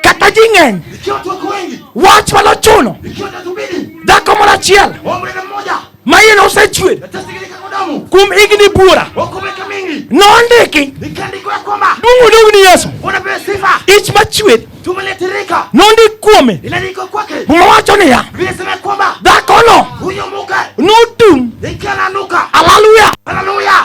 kata ji ng'eny, wach ma nochuno dhako moro achiel ma iye nosechwer kuom higni buora nondiki duong' odog ni Yesu ich machwer nondik kuome muma wacho niya dhakono notum alaluya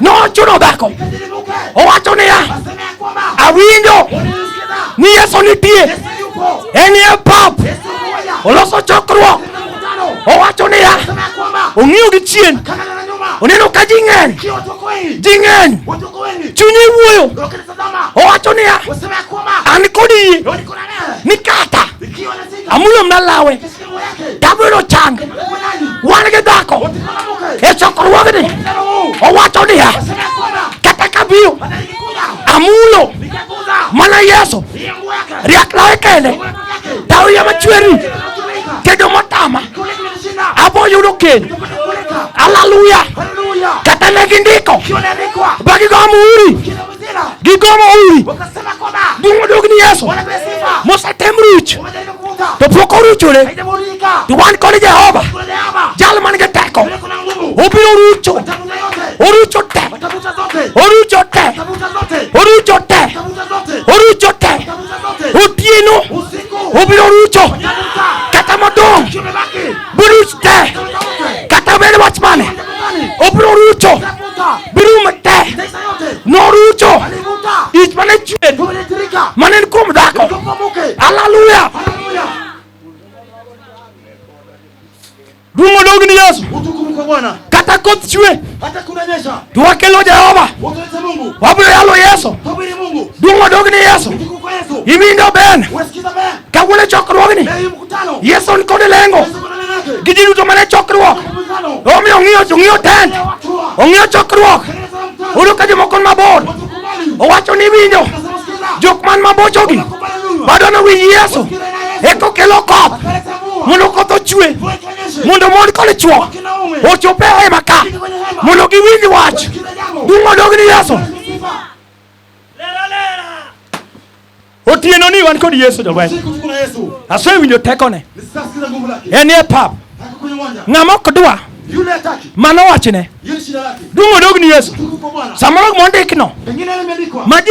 nochuno dhako owacho niya awinjo ni yesu nitie en e pap oloso chokruok owacho niya ong'iyo gi chien oneno ka ji ng'eny ji ng'eny chunye wuoyo owacho niya an kod yie ni kata amulo mna lawe Damu ilo chang wan gi dhako e chokruogni owacho niya kata kabiyo amulo mana Yesu riak lawe kende tauya machweri kedo motama abo yudo keny haleluya kata ne gindiko bagigo muhuri Gigomo uri. Bungo dog ni Yesu. Musa tem ruch. To pok oruchore. To wan kod Jehova. Jal man gi teko. Obiro rucho. Orucho te. Orucho te. Orucho te. Orucho te. Otieno. Obiro rucho. Kata modong. Buruch te. Kata obed wach mane. Obiro rucho. Birum te. norucho ich mane chwen mane ni kuom dhako haleluya duong' odog ni yesu kata koth chwe to wakelo jehova wabiro yalo yesu duong' odog ni yesu iwinjo ben kawuono chokruogni Yesu nikode lengo gi ji duto mane chokruok. Omiyo ong'iyo ong'iyo tent, ong'iyo chokruok. Uru ka jomoko ni mabor, owacho ni winjo jok man mabochogi bado ne winj Yesu eka okelo koth mondo koth ochwe mondo mon kod chwo ochop e hema ka mondo giwinj wach duong' odog ni Yesu. Otieno ni wan kod Yesu jolweny. Asewinjo tekone. En e pap. Ng'ama ok dwa mano wachne. Duong' odog ni Yesu. Samoro gima ondikno ma ji